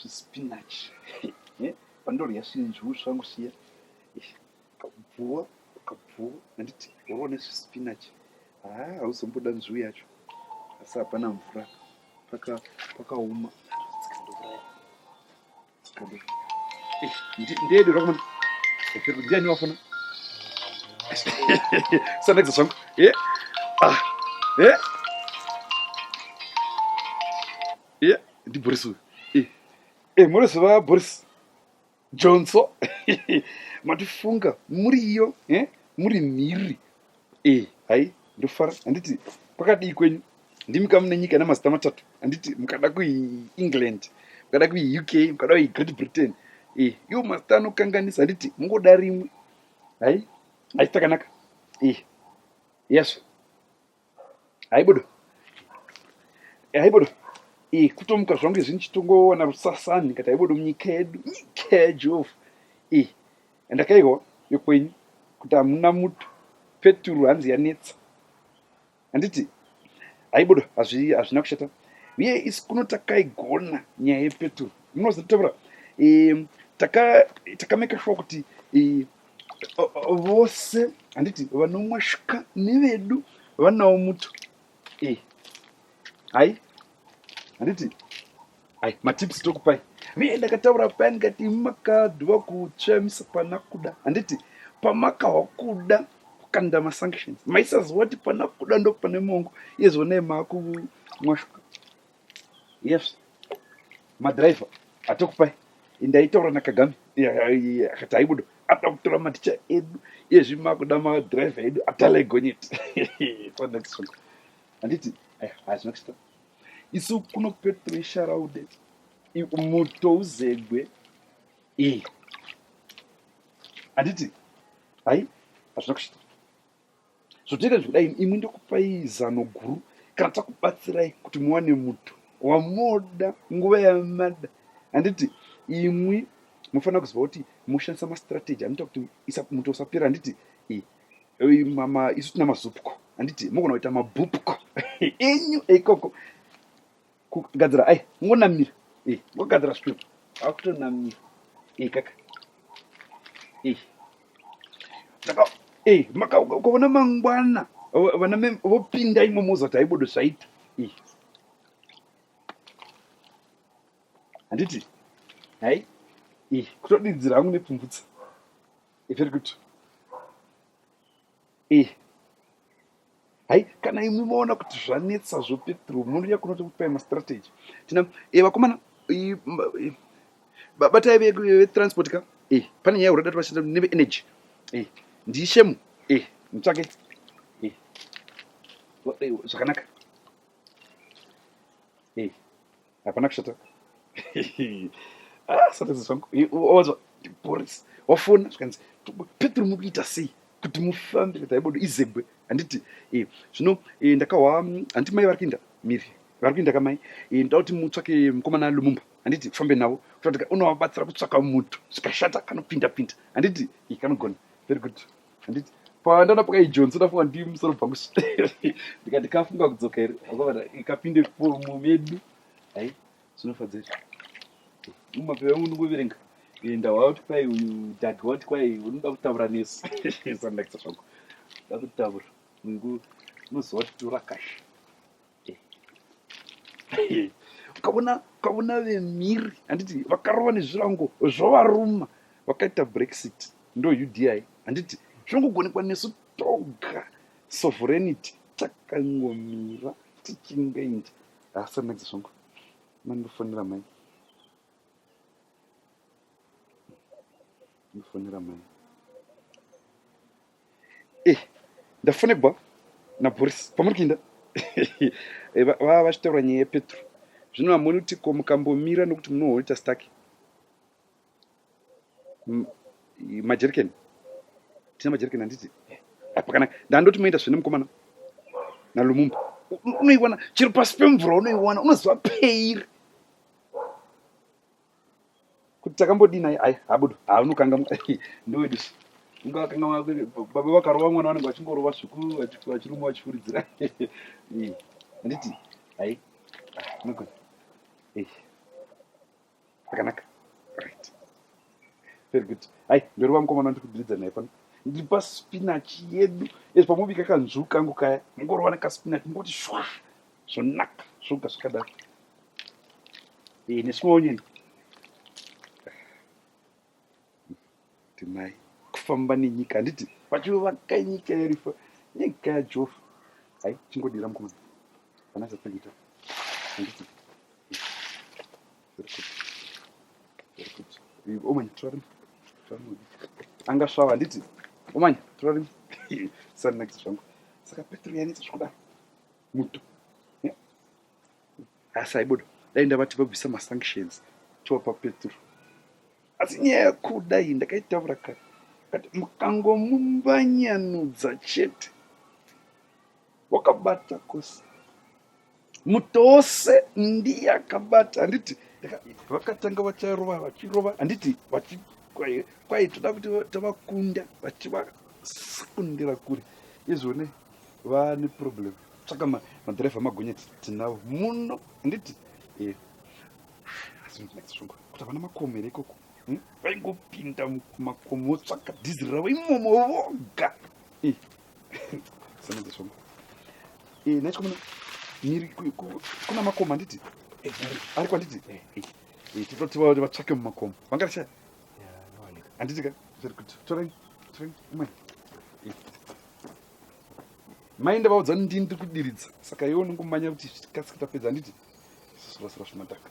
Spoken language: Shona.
zvispinach eh, pandodya svinzvuu zvangu siya kabvuwa kabvuwa handiti waone zvispinach haa ah, hauzomboda nzvuu yacho asi hapana mvura pakaoma eh, ndeedu rakumana peru ndiani wafona sanakisa zvangu e eh? ah, e eh? Iya, ndi Boris uyu. Eh, eh, munoziva Boris Johnson? Matifunga muri iyo, eh? Muri mhiri. Eh, hai, ndofara. Handiti pakadii kwenyu? Ndimi kamu nenyika ina mazita matatu. Handiti mukada kui England, mukada kui UK, mukada kui Great Britain. Eh, iwo mazita anokanganisa. Handiti mungoda rimwe. Hai, hai takanaka. Eh, yes. haibudo haibudo e kutomuka zvangu izvi ndichitongoona rusasani ndikati haibudo munyika yedu nyika yajehovha e andakaiwa yokwenyu kuti hamuna muto peturu hanzi yanetsa handiti haibudo hazvina kushata uye isi kuno takaigona nyaya yepeturu munozotaura takameka shuwa kuti vose handiti vanomwashika nevedu vanawo muto e hai handiti hai matips tokupai vee ndakataura paya ndikati imi makadwa kutsvamisa pana kuda handiti pamakahwa kuda kukanda masanctions maisaziva kuti pana kuda ndopane mongo iyezvonai maakumwashika yes madriver atokupai ndaitaura nakagame akati aibudo ada kutora maticha edu ezvi makuda madriver edu atalegonyeti handiti eh, hazvina kusita isu kuno petro isharaude mutouzegwe iyi handiti hai hazvina kushita Zvotoita zvekuda ini imwe ndokupai zano guru kana takubatsirai kuti muwane muto wamoda nguva yamada handiti imwi mufanira kuziva kuti moshandisa mastrategy anoita kuti muto usapera handiti isu tina mazupko handiti mogona kuita mabupko enyu ikoko kugadzira ai ngonamira eh ngogadzira stop akutonamira eh kaka eh saka eh maka ukavona mangwana vana me vopinda imo moza kuti aibodo zvaita eh handiti hai eh kutodidzira hangu nepfumvutsa eh very good Eh. Hai kana imwe maona kuti zvanetsa zvope through munhu yakunoti kupai mastrategy. Tina eh vakomana eh, eh, batai vetransport ka eh pane nyaya urada tuvashanda neve energy eh ndishemu eh mutsvake eh, eh zvakanaka eh hapana kushata ah, satadza zvangu wanzwa boris wafona zvikanzi petro muri kuita sei kuti mufambe kuti aibodo izebwe handiti eh, zvino eh, ndakahwa handiti mai vari kuinda miri vari kuinda kamai eh, ndoda kuti mutsvake mukomana lumumba handiti kufambe navo kutaa unovabatsira kutsvaka mutu zvikashata kanopinda pinda handiti kanogona very good handiti pandaona pakaijonzi ndafunga ndi musoro bva kusi ndikati kafunga kudzoka here akavana ikapinde fomu medu hai zvinofadza here mumapepa yangu ndingoverenga enda wauti kwai uyu dhagi wauti kwai unoda kutaura nesu sandakisa zvangu ndakutaura ngu unoziva kuti torakasha ukaona ukaona vemhiri handiti vakarova nezvirango zvovaruma vakaita brexit ndo udi handiti zvongogonekwa nesu toga sovereignity takangomira tichingainja hasa maidzi zvongo mandofonera mai ndofonera mai Eh, ndafonebwa naboris pamuri kuinda Eh, va- vava vachitaura nyaya yepetro zvino hamuoni kuti ko mukambomira nokuti munohoita staki majerikeni tina majerikeni handiti apa kana ndandoti moenda zvine mukomana nalumumba U- u- unoiwana chero pasi pemvura unoiwana unoziva peiri kuti takambodii naye aya abudo haunokangamwa ndowedusu ungakangamwa baba vakarova mwana vanenge vachingorova sviku vachiruma vachifuridzira handiti ai unogona akanaka right very good hai ndorova mukomana ndiri kudiridza naye pano ndiri paspinach yedu ezvi pamobika kanzvuu kangu kaya mungorova nekaspinach mungoti shwa zvonaka zvoga zvakadaro Iyi ni small nyini. Timai kufamba nenyika handiti vachivaka nyika yarifa nyika yajofa hai chingodira mukomana kana zvatangita handiti omanya turarima turarima anga svava handiti omanya turarima sanakisa zvangu saka petro yanetsa zvikudaro muto asi aibuda dai ndavati vabvisa masanctions tovapa peturu asi nyaya yakuda iyi ndakaitaura kare kati mukangomumbanyanudza chete wakabata kose mutose ndiye akabata handiti vakatanga vacharova vachirova handiti kwai toda kuti tavakunda vachivasekundira kure izvone Vane problem. Tsvaka ma madriver magonyeti tinavo muno handiti? Eh. Asi ndinetsa shungu kuti havana makomo here ikoko. Hmm? Vaingopinda mumakomo votsvaka dhiziri ravo imomo voga. Eh. Sanedza shungu. Eh, nacho kumana miri kuna makomo handiti? Eh, ari kwanditi? Eh. Eh, eh titotiwa kuti vatsvake mumakomo. Vangarashaya? Handiti ka? Very good. Torai. Torai. Umwe. Eh. mai ndavaudza ndini ndiri kudiridza saka iwe unongomanya kuti kasike tapedza handiti sisirasira zvimataka